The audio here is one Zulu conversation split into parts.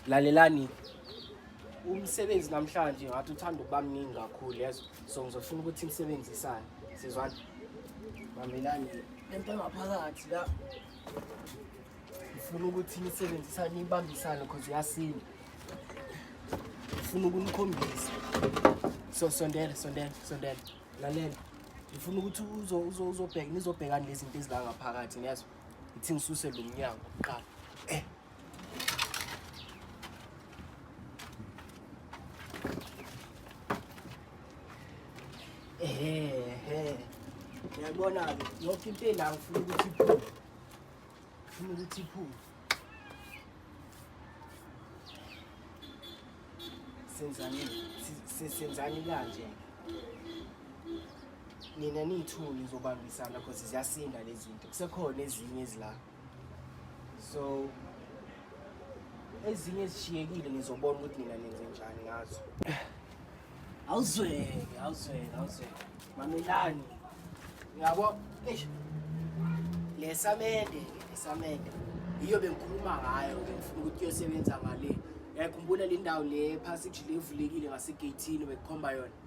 lalelani umsebenzi namhlanje ngathi uthanda ukuba mningi kakhulu yezo so ngizofuna ukuthi nisebenzisane sizwana bambelani lento engaphakathi la ngifuna ukuthi nisebenzisane nibambisane because uyasinda ngifuna ukunikhombisa so sondela sondela sondela lalela ngifuna ukuthi uzobheka nizobhekani lezinto ezilangaphakathi niyazwa ithi ngisuse lo mnyango kuqala eh Ehe. Uyabona-ke yonke into ela ngifuna ukuthi iphume. Ngifuna ukuthi iphume. Senzani senzani kanje. Nina niyithuli zobambisana because ziyasinda lezi zinto. Kusekhona ezinye ezilapha. so ezinye zishiyekile ngizobona ukuthi nina nenze njani ngazo awuzweke awuzweke awuzweke mamelani ngiyabo eish lesamende lesamende yiyo bengikhuluma ngayo ke ngifuna ukuthi kuyosebenza ngale yakhumbula le ndawo le passage le evulekile ngasegeyithini bekhomba yona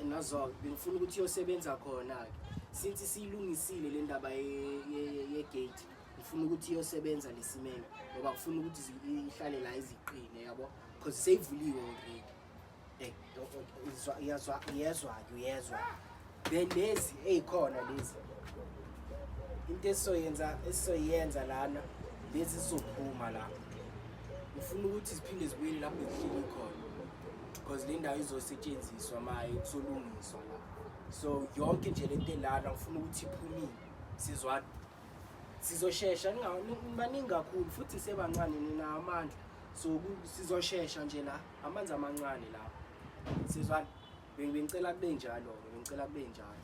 Nozok bengifuna ukuthi uyosebenza khona-ke since siyilungisile le ndaba yegate ngifuna ukuthi iyosebenza lesimeme ngoba ngifuna ukuthi ihlale la iziqine yabo because seyivuliwe already eh, iyazwa iyezwa ke uyezwa then lezi ezikhona lezi into esizoyenza esizoyenza lana lezi zizophuma la ngifuna ukuthi ziphinde zibuyele lapho zihleli khona because le ndawo izosetshenziswa maye kusolungiswa la so yonke nje le nto elana ngifuna ukuthi iphumile sizwa sizoshesha baningi kakhulu futhi sebancane nina amandla so sizoshesha nje la amanzi amancane la sizwani bengicela kube njalo-ke bengicela kube njalo